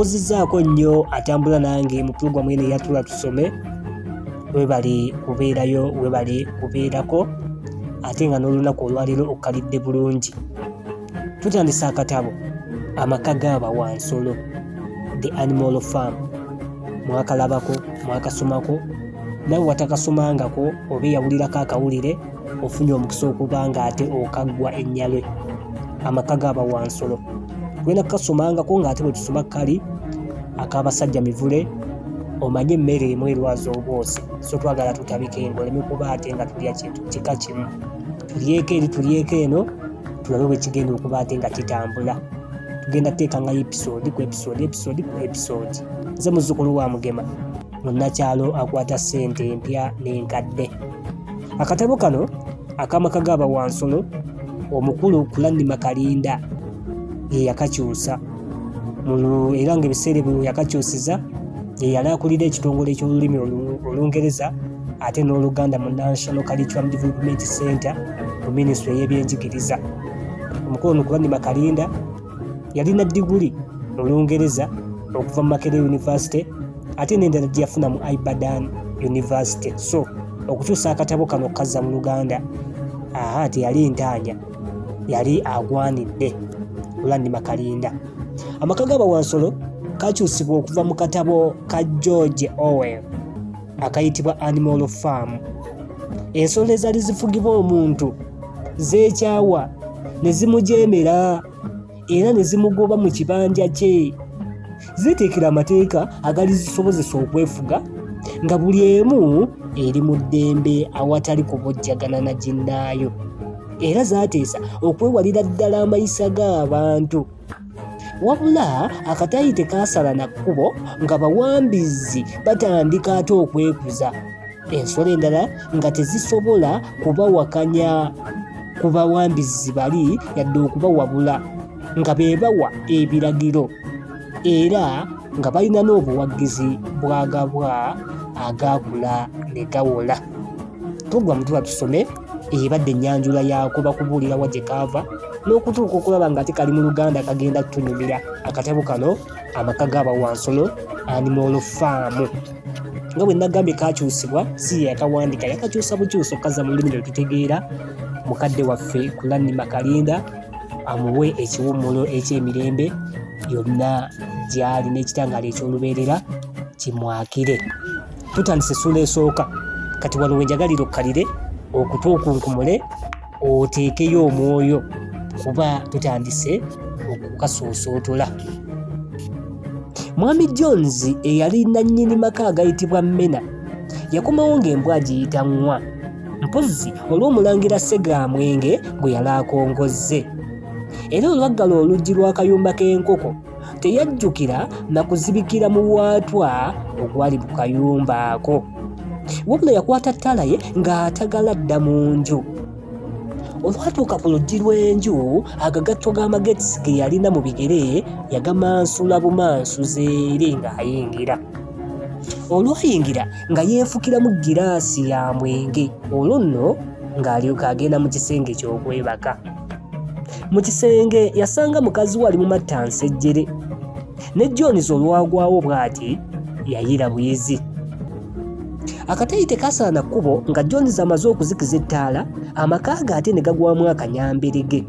Mbuuzizzaako nnyo atambula nange mu pulogulaamu eno eya Tuula Tusome, webali kubeerayo, webali kubeerako ate nga n'olunaku olwaleero okkalidde bulungi. Tutandise akatabo amaka gaaba wa nsolo the animal farm mwakalabako mwakasomako nawe watakasomangako oba eyawulirako akawulire ofunye omukisa okuba nga ate okaggwa ennyalwe amaka gaba wansolo tulina kukasomangako ng'ate bwe tusoma kali ak'abasajja mivule omanye emmere emu erwaza obwosi so twagala tutabika engo oleme kuba ate nga tulya kintu kika kimu tulyeko eri tulyeko eno tulabe bwe kigenda okuba ate nga kitambula tugenda teekangayo episode ku episode episode ku episode nze muzzukulu wa mugema munnakyalo akwata ssente empya n'enkadde akatabo kano akamaka gaaba wansolo omukulu kulanima kalinda yeyakakyusa era ngaebiseera ebyo yakakyusiza yeyali akulira ekitongole eky'olulimi olungereza ate n'oluganda mu national curriculum development center mu minisitule y'ebyenjigiriza omukulu ono kulanima kalinda Yalina diguli mu Lungereza okuva mu Makerere University ate n'endala gye yafuna mu Ibadan University. So okukyusa akatabo kano okukazza mu Luganda aha teyali ntaanya, yali agwanidde Olandima Kalinda. Amaka ga Bawansolo kakyusibwa okuva mu katabo ka George Orwell akayitibwa Animal Farm. Ensolo ezaali zifugibwa omuntu zeekyawa ne zimujeemera era ne zimugoba mu kibanja kye ziteekera amateeka agali zisobozesa okwefuga nga buli emu eri mu ddembe awatali kubojjagana na ginnaayo era zaateesa okwewalira ddala amayisa g'abantu wabula akataayi tekaasala na kkubo nga bawambizi batandika ate okwekuza ensolo endala nga tezisobola kubawakanya ku bawambizi bali yadde okubawabula nga be bawa ebiragiro era nga balina n'obuwagizi bwagabwa agaakula ne gawola tugwa mutuba tusome ebadde ennyanjula yaako bakubuulira wa gye kaava n'okutuuka okulaba nga ate kali mu luganda kagenda kutunyumira akatabo kano amaka g'abawansono animal faamu nga bwe nagambye kakyusibwa si ye yakawandika yakakyusa bukyusa okukaza mu lulimi lwe tutegeera mukadde waffe kulanni makalinda amuwe ekiwummulo eky'emirembe yonna gy'ali n'ekitangaala eky'olubeerera kimwakire tutandise essuula esooka kati wano wenjagalire okkalire okutuukunkumule oteekeyo omwoyo kuba tutandise okukasuusootola mwami jones eyali nannyini maka agayitibwa mena yakomawo ng'embwa agiyita nwa mpozzi olw'omulangira segamwenge gwe yali akongozze era olwaggala oluggi lw'akayumba k'enkoko teyajjukira na kuzibikira mu waatwa ogwali mu kayumba ako wabula yakwata ttaala ye ng'atagala dda mu nju olwatuuka ku luggi lw'enju agagatto g'amagezi ge yalina mu bigere yagamansula bumansuzi eri ng'ayingira olwayingira nga yeefukiramu giraasi ya mwenge olwo nno ng'alyoka agenda mu kisenge ky'okwebaka mu kisenge yasanga mukazi we ali mu matta nsejjere ne jones olwagwawo bw'ati yayira buyizi akatayi tekasaana kkubo nga jones amaze okuzikiza ettaala amaka ge ate ne gagwamu akanyamberege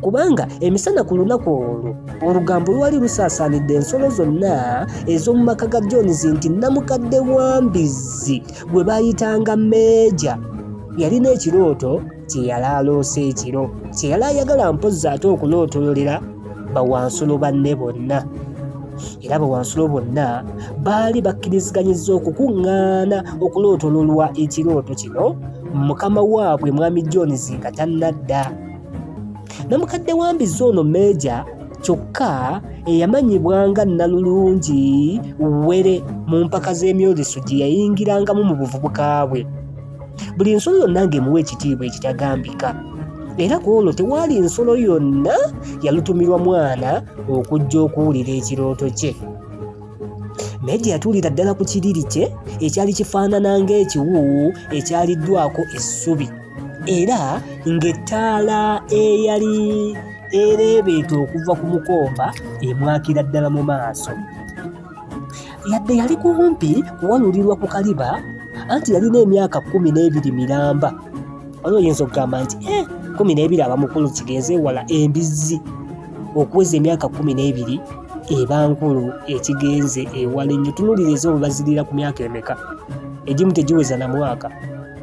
kubanga emisana ku lunaku olwo olugambo lwali lusaasaanidde ensolo zonna ez'omu maka ga jones nti namukadde wa mbizzi gwe baayitanga meeja yalina ekirooto kye yali aloose ekiro kye yali ayagala mpozzi ate okulootololera bawansulo banne bonna era bawansulo bonna baali bakkiriziganyizza okukuŋŋaana okulootololwa ekirooto kino mukama waabwe mwami jones nga tannadda namukadde wa mbizzi ono meeja kyokka eyamanyibwa nga nnalulungi were mu mpaka z'emyoleso gye yayingirangamu mu buvubuka bwe buli nsolo yonna ng'emuwa ekitiibwa ekitagambika era ku olwo tewaali nsolo yonna yalutumirwa mwana okujja okuwulira ekirooto kye naye gye yatuulira ddala ku kiriri kye ekyali kifaanana ng'ekiwuuwu ekyaliddwako essubi era ng'ettaala eyali ereebeeta okuva ku mukomba emwakira ddala mu maaso yadde yali kumpi kuwalulirwa ku kaliba anti yalina emyaka kumi n'ebiri miramba oyo oyinza okugamba nti eh, kumi n'ebiri aba mukulu kigenze wala embizzi okuweza emyaka kumi n'ebiri eba nkulu ekigenze ewala ennyo tunulira eza obubazirira ku myaka emeka egimu tegiweza na mwaka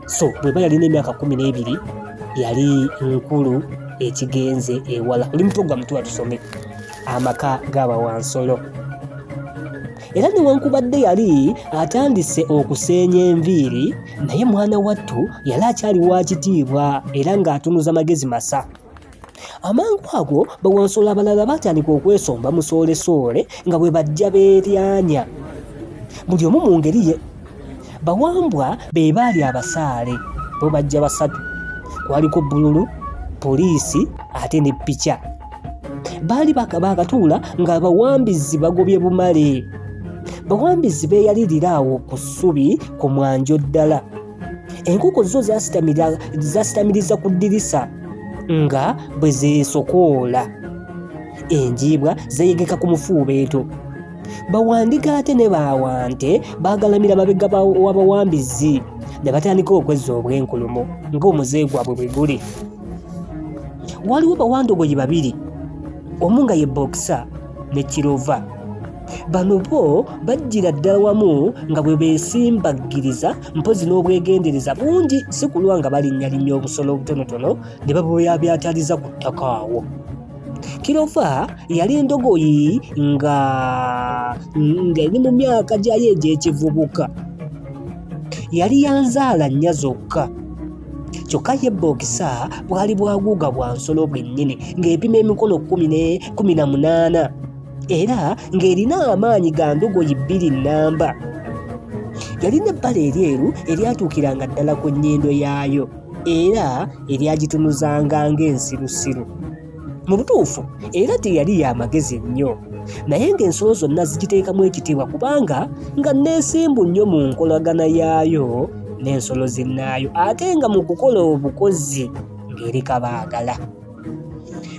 so bweba yalina emyaka kumi n'ebiri yali nkulu ekigenze ewala oli muto gwa mutu atusome amaka g'abawansolo era newankubadde yali atandise okuseenya enviiri naye mwana wattu yali akyali wa kitiibwa era ng'atunuza magezi masa amangu ago bawansolo abalala baatandika okwesomba musoolesoole nga bwe bajja beeryanya buli omu mu ngeri ye bawambwa be baali abasaale bo bajja basatu kwaliko bululu poliisi ate ne pica baali bakatuula ng'abawambizi bagobye bumale bawambizi beeyalirira awo ku ssubi ku mwanjo ddala enkoko zo zasitamiriza ku ddirisa nga bwe zeesokoola enjiibwa zeeyegeka ku mufuubeeto bawandiga ate ne bawante bagalamira mabega wabawambizi ne batandika okwezza obwenkulumu ng'omuze gwabwe bwe guli waliwo bawandogoyi babiri omu nga ye bokisa ne kirova bano bo bajjira ddala wamu nga bwe beesimbaggiriza mpozi n'obwegendereza bungi si kulwa nga balinnyalinnya obusolo obutonotono ne babuyabyataliza ku ttaka awo Kirofa yali endogoyi nga ng'eri mu myaka gyayo egy'ekivubuka. Yali ya nzaala nnya zokka. kyokka ye bookisa bwali bwaguuga bwa nsolo bwennyini ng'epima emikono kumi na munaana era ng'erina amaanyi ga ndogoyi bbiri nnamba yalina ebbala eryeru eryatuukiranga ddala ku nnyindo yaayo era eryagitunuzanga ng'ensirusiru mu butuufu era teyali ya magezi nnyo naye ng'ensolo zonna zigiteekamu ekitiibwa kubanga nga nneesimbu nnyo mu nkolagana yaayo n'ensolo zinnaayo ate nga mu kukola obukozi ng'eri kabaagala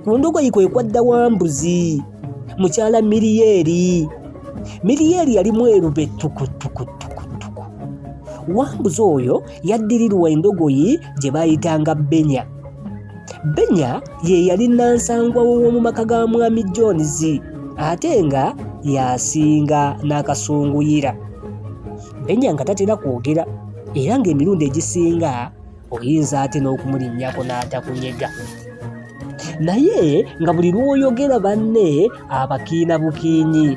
ku ndogoyi kwe kwadda wa mbuzi mukyala miriyeeri miriyeeri yalimu erube tukutukutukutuku wambuzi oyo yaddirirwa endogoyi gye baayitanga benya benya ye yali nansangwa w'omu maka ga mwami jones ate nga yasinga n'akasunguyira benya nga tatera kwogera era ng'emirundi egisinga oyinza ate n'okumulinnyako n'atakunyega naye nga buli lw'oyogera banne abakiina bukiinyi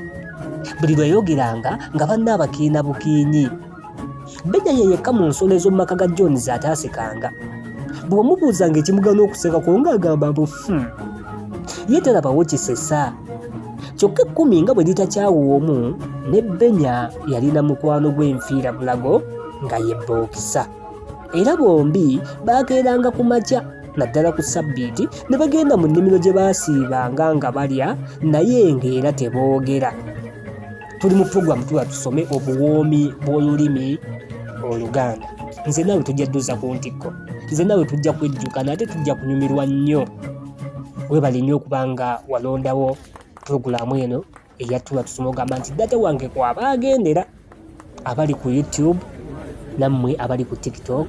buli lweyogeranga nga banne abakiina bukiinyi Beja ye yekka mu nsolo ez'omu maka ga Jones ataasekanga. Bw'omubuuzanga ekimugana okuseka kwo ng'agamba mbu hmm, ye talabawo kisesa. Kyokka ekkumi nga bwe litakyawa omu ne Benya yalina mukwano gw'enfiira bulago nga ye Bookisa. Era bombi baakeeranga ku makya naddala ku ssabbiiti ne bagenda mu nnimiro gye baasiibanga nga balya naye ng'era teboogera. tuli mu program tuba tusome obuwoomi bw'olulimi oluganda nze naawe tujja dduza ku ntikko nze naawe tujja kwejjukana ate tujja kunyumirwa nnyo webale nnyo okuba nga walondawo pulogulaamu eno eyatula tusoma ogamba nti data wange kwaba agendera abali ku youtube nammwe abali ku tiktok